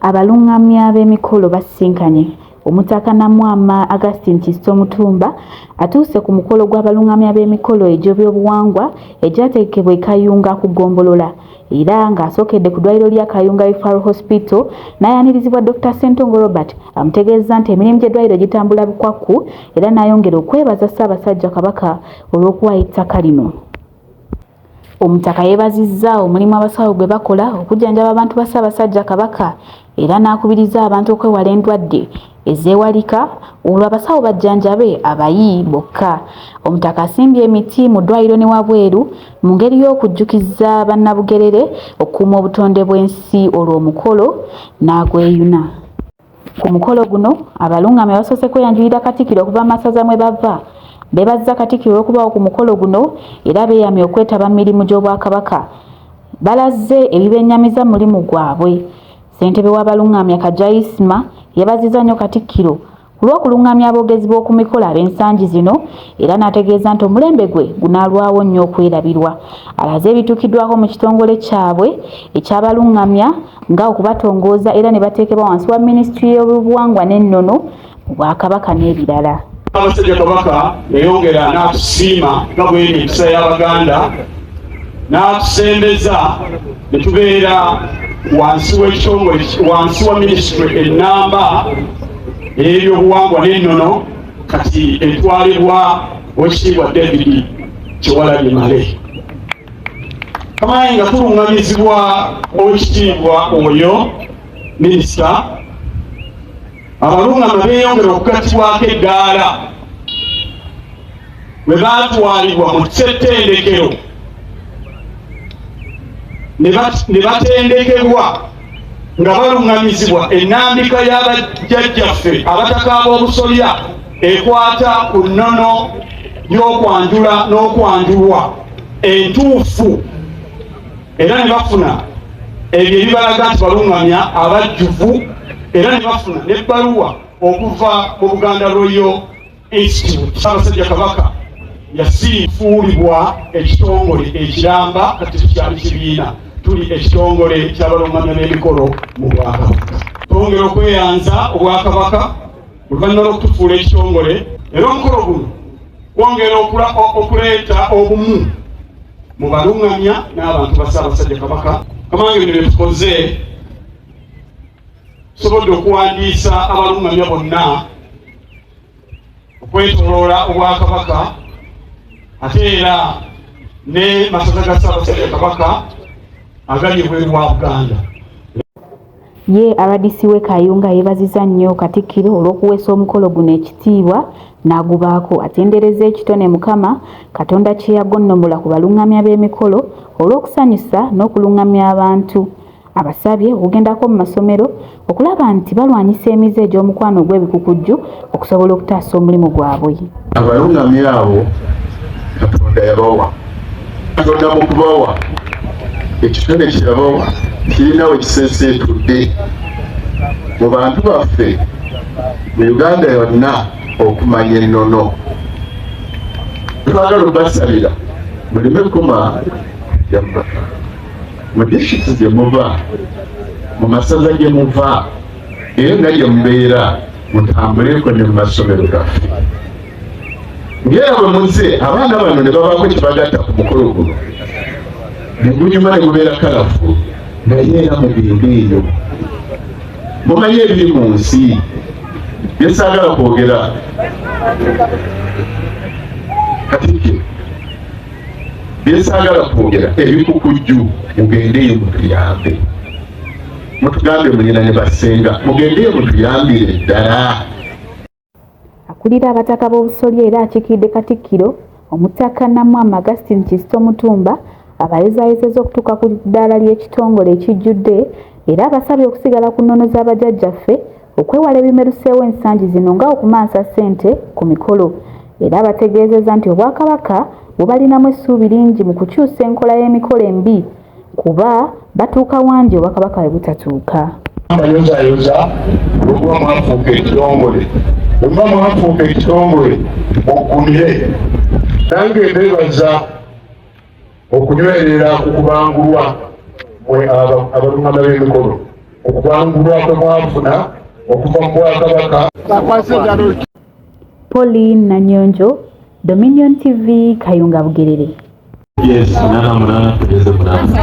Abalungamya b'emikolo basisinkanye Omutaka Namwama Augustine Kizito Mutumba atuuse ku mukolo gw'abalungamya b'emikolo egy'ebyobuwangwa egyategekebwa e Kayunga ku ggombolola era ng'asookedde ku ddwaliro lya Kayunga Referral Hospital n'ayanirizibwa Dr. Ssentongo Robert amutegeezza nti emirimu gy'eddwaliro gitambula bukwakku era n'ayongera okwebaza Ssaabasajja Kabaka olw'okuwaayo ettaka lino. Omutaka yebazizza omulimu abasawo gwe bakola okujjanjaba abantu ba Ssaabasajja Kabaka era n'akubiriza abantu okwewala endwadde ezeewalika olwo abasawo bajjanjabe abayi bokka. Omutaka asimbye emiti mu ddwaliro ne wabweru mu ngeri y'okujjukiza Bannabugerere okukuuma obutonde bw'ensi olwo omukolo n'agweyuna. Ku mukolo guno abalungamya basoose kweyanjulira Katikkiro okuva mu masaza mwe bava. Beebazizza Katikkiro olw'okubaawo ku mukolo guno era beeyamye okwetaba mu mirimu gy'Obwakabaka. Balazze ebibenyamiza mu mulimu gwabwe. Ssentebe w'abalungamya Kaggya Isma yeebazizza nnyo Katikkiro ku lw'okulungamya aboogezi b'oku mikolo ab'ensangi zino era n'ategeeza nti omulembe gwe gunaalwawo nnyo okwerabirwa. Alaze ebituukiddwako mu kitongole kyabwe eky'abalungamya nga okubatongooza era ne bateekebwa wansi wa minisitule y'obuwangwa n'ennono mu bwakabaka n'ebirala abasajja kabaka yayongera n'atusiima nga bweri empisa y'abaganda n'atusembeza ne tubeera wansi w'ekitongole wansi wa minisitule ennamba ey'ebyobuwangwa n'ennono kati etwalibwa owekitiibwa david kyewalabye male kamaye nga tulungamizibwa owekitiibwa oyo minisita abalungama beyongera okugattibwako eddaala bwe baatwalibwa mu ssettendekero ne batendekebwa nga baluŋŋamizibwa ennambika ya bajjajjaffe abataka ab'obusolya ekwata ku nnono y'okwanjula n'okwanjulwa entuufu era ne bafuna ebyo ebibalaga nti baluŋŋamya abajjuvu era ne bafuna n'ebbaluwa okuva mu buganda royo Ekitibwa Ssaabasajja Kabaka yasiifuulibwa ekitongole ekiramba kati tukyali kibiina tuli ekitongole ky'abalungamya b'emikolo mu Bwakabaka. Twongera okweyanza Obwakabaka oluvannyuma lw'okutufuula ekitongole era omukolo guno kwongera okuleeta obumu mu balungamya n'abantu ba Ssaabasajja Kabaka. Kamange bino bye tukoze Tusobodde okuwandiisa abalungamya bonna okwetoloola Obwakabaka ate era ne masaza ga Ssaabasajja Kabaka agali ebweru wa Buganda. Ye RDC w'e Kayunga yeebaziza nnyo Katikkiro olw'okuweesa omukolo guno ekitiibwa n'agubaako atendereza ekitone Mukama Katonda kye yagonnomola ku balungamya b'emikolo olw'okusanyusa n'okulungamya abantu Abasabye okugendako mu masomero okulaba nti balwanyisa emize egy'omukwano ogw'ebikukujju okusobola okutaasa omulimu gwabwe. Abalungami abo Katonda yabawa. Katonda mu kubawa ekitone kye yabawa kirina we kiseeseetudde mu bantu baffe mu Uganda yonna okumanya ennono. Twagala okubasabira muleme kukoma yamma. mu district gye muva mu masaza gye muva era nga gye mubeera mutambuleko ne mu masomero gaffe ngera bwe muze abaana bano ne babaako kibagatta ku mukolo guno ne gunyuma ne gubeera kalafu naye era mugende eyo mumanyi ebiri mu nsi byesaagala kwogera katikiro byesaagala kwogera ebikukujju mugendeyo mutuyambe mutugambe mulina ne basenga mugendeyo mutuyambire ddala akulira abataka b'obusolya era akikiidde katikkiro omutaka namwamu augustin kisito mutumba abayozayozeza okutuuka ku ddaala ly'ekitongole ekijjudde era abasabye okusigala ku nnono z'abajajjaffe okwewala ebimeruseewo ensangi zino nga okumansa ssente ku mikolo era abategeezeza nti Obwakabaka bubalinamu essuubi lingi mu kukyusa enkola y'emikolo embi kuba batuuka wangi Obwakabaka we butatuuka. Abayozayoza bwemuba mwafuuka ekitongole bwemuba mwafuuka ekitongole muggumire nange mbebaza okunywerera ku kubangulwa mwe abalungama b'emikolo ku kubangulwa kwe mwafuna okuva mu bwakabaka poli nanyonjo dominion tv kayunga bugerere yes,